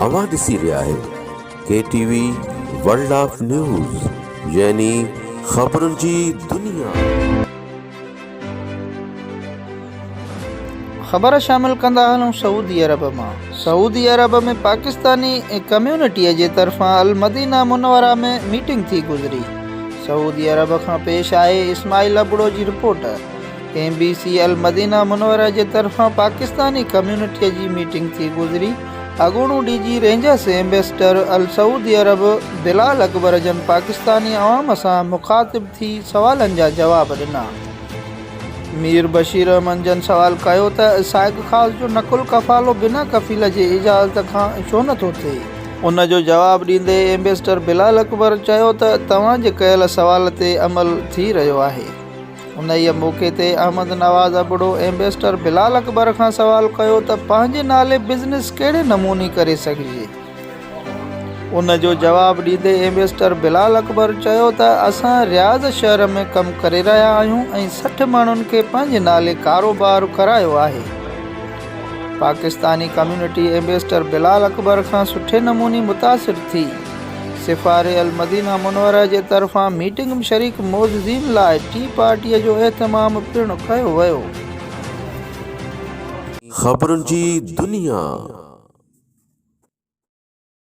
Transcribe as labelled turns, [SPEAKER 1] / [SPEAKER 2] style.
[SPEAKER 1] اوهان ڏسي رهيا آهيو K T V world of news يعني خبرن جي دنيا.
[SPEAKER 2] خبر شامل ڪندا هلون سعودي عرب مان سعودي عرب ۾ پاڪستاني ڪميونٽي جي طرفان المدينه منوره ۾ ميٽنگ ٿي گذري سعودي عرب کان پيش آهي اسماعيل ابڙو جي رپورٽ. ايم بي سي المدينه منوره جي طرفان پاڪستاني ڪميونٽيء جي ميٽنگ ٿي گذري، اڳوڻو ڊي جي رينجرس ايمبيسڊر السعودي عرب بلال اڪبر جن پاڪستاني عوام سان مخاطب ٿي سوالن جا جواب ڏنا. مير بشير احمد جن سوال ڪيو ته سائق خاص جو نقل قفالو بنا ڪفيل جي اجازت کان ڇو نه ٿو ٿئي؟ ان جو جواب ڏيندي ايمبيسڊر بلال اڪبر چيو ته توهان جي ڪيل سوال تي عمل ٿي رهيو آهي. انهيء موقعي تي احمد نواز ابڙو ايمبيسڊر بلال اڪبر کان سوال ڪيو ته پنهنجي نالي بزنس ڪهڙي نموني ڪري سگهجي؟ ان جو جواب ڏيندي ايمبيسڊر بلال اڪبر چيو ته اسان رياض شهر ۾ ڪم ڪري رهيا آهيون ۽ سٺ ماڻهن کي پنهنجي نالي ڪاروبار ڪرايو آهي. پاڪستاني ڪميونٽي ايمبيسڊر بلال اڪبر کان سٺي نموني متاثر ٿي. سفاري المدينه منوره جي طرفان ميٽنگ ۾ شريڪ معززين لاء ٽي پارٽي جو اهتمام پڻ ڪيو ويو. خبرن
[SPEAKER 1] جي
[SPEAKER 2] دنيا.